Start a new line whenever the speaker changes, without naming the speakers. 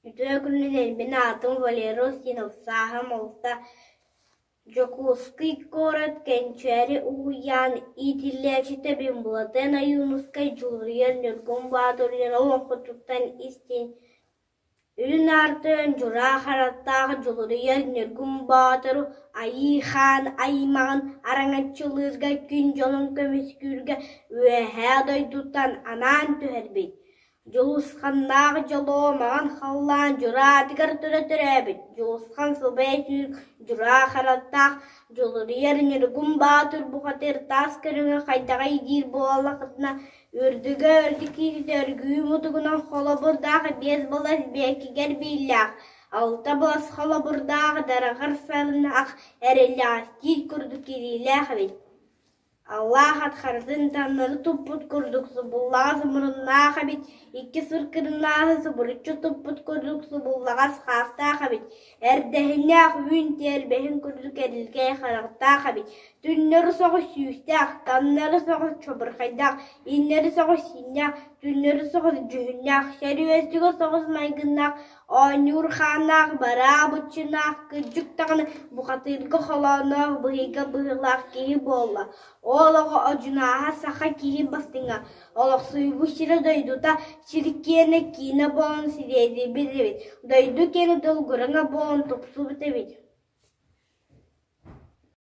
Үтүө күнүлэрбин аатым Валера Устинов, сааһым алта, Дьокуускай куорат Кэнчээри уһуйаан иитиллээччитэбин, Булатыан Ойуунускай, Дьулуруйан Ньургун Баатыр Үөһээ Уоҥхутуттан истин Үрүн арты Дьура хараттаах Дьулуруйар Ньургун Боотуру Айыыхаан аймаҕын араҥаччылыырга күн дьонун көмүскүүргэ Үөһээ дойдуттан анаан түһэрбит, Дьулусханнаах дьолуо маҥан халлаан Дьура атыгар тура төрөөбүт Дьулусхан субэй түүн Дьура хараттаах Дьулуруйар Ньургун Боотур бухатыыр таас көрүҥэ хайдаҕай диир буоллахытына Үрдүгэ өрдүкүүтүтэ өргүү мутугунан холобурдаах биэс былас биэккигэр бииллээх, алта былас холобурдаах дараҕар сарынаах эрэллээхтиир курдук кириилээх эбит. Аллаах ат харытын таҥнары туппут курдук субуллаҕас муруннаах эбит, икки сыр кырыннааһы субуруччу туппут курдук субуллаҕас хаастаах эбит Эрдэһиннээх үүн тиэрбэһин курдук эрилгэй харахтаах эбит, түннэри соҕус сүүстээх, тамнары соҕус чобурхайдаах, ииннэри соҕус сииннээх, түннэри соҕус дьүһүннээх, сэрүөстүгэ соҕус майгыннаах, оонньуур хааннаах, бараа быччынаах, кырдьык даҕаны бухатыырга холооноох, быһыйга быһыылаах киһи буолла, ол оҕо одьунааһа саха киһи бастыҥа Олохсуйбут сирэ дойдута сир-киэнэ киинэ буолан сириэдийбит эбит, дойду киэҥ тылгырана буолан тупсубут эбит